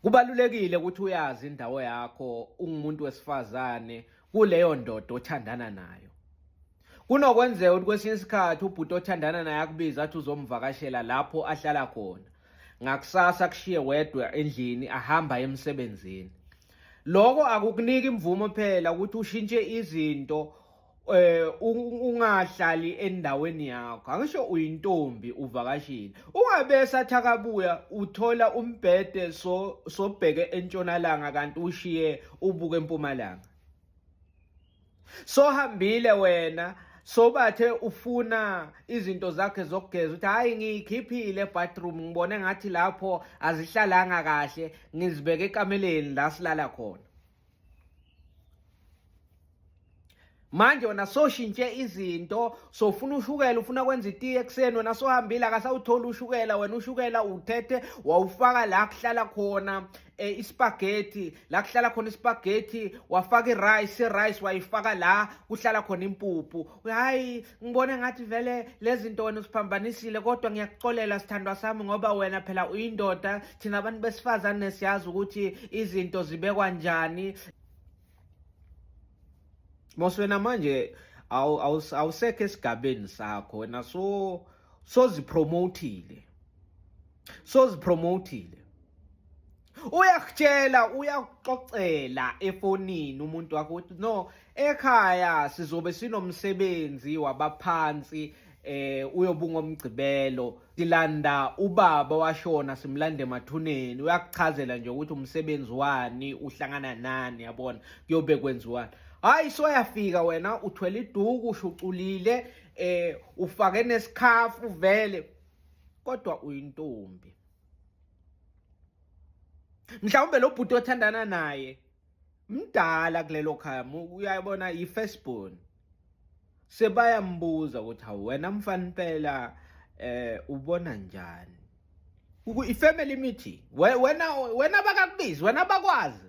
Kubalulekile ukuthi uyazi indawo yakho ungumuntu wesifazane kuleyo ndoda othandana nayo. Kunokwenzeka ukuthi kwesinye isikhathi ubhuti othandana naye akubiza athi uzomvakashela lapho ahlala khona. Ngakusasa kushiye wedwa endlini ahamba emsebenzini. Lokho akukuniki imvumo phela ukuthi ushintshe izinto eh ungahlali endaweni yakho angisho uyintombi uvakashile ungabe sathakabuya uthola umbhede so sobheke entshonalanga kanti ushiye ubuke empumalanga sohambile wena sobathe ufuna izinto zakhe zokugeza ukuthi hayi ngiyikhiphile bathroom ngibone ngathi lapho azihlalanga kahle ngizibeke ekameleni la silala khona manje wena soshintshe izinto sofuna ushukela ufuna kwenza itiye ekuseni wena sohambile akasawutholi ushukela wena ushukela uthethe wawufaka la kuhlala khona eh, ispagethi la kuhlala khona ispagethi wafaka irice irice wayifaka la kuhlala khona impuphu hayi ngibona ngathi vele lezi nto wena usiphambanisile kodwa ngiyakuxolela sithandwa sami ngoba wena phela uyindoda thina abantu besifazane siyazi ukuthi izinto zibekwa njani mos wena manje awusekho esigabeni sakho wena so sozipromotile sozipromotile uyakutshela uyakuxoxela efonini umuntu wakho ukuthi no ekhaya sizobe sinomsebenzi wabaphansi eh uyobungomgcibelo silanda ubaba washona simlande emathuneni uyakuchazela nje ukuthi umsebenzi wani uhlangana nani yabona kuyobe kwenziwani hayi soyafika wena uthwele iduku ushuculile eh ufake nesikhafu vele kodwa uyintombi mhlawumbe lo bhuti othandana naye mdala kulelo khaya uyabona yi-first born sebayambuza ukuthi hawu wena mfana impela eh ubona njani i-family meeting wena wena bakakubizi wena bakwazi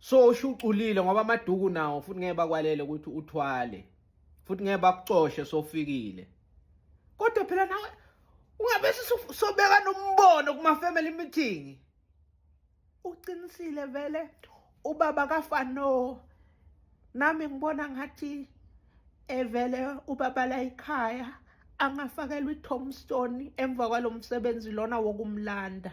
so ushuculile ngoba amaduku nawo futhi ngeke bakwalele ukuthi uthwale futhi ngeke bakucoshe sofikile kodwa phela nawe ungabe sobeka nombono kuma family meeting uqinisile vele ubaba kafano nami ngibona ngathi evele ubaba la ekhaya angafakelwa itombstone emva kwalomsebenzi lona wokumlanda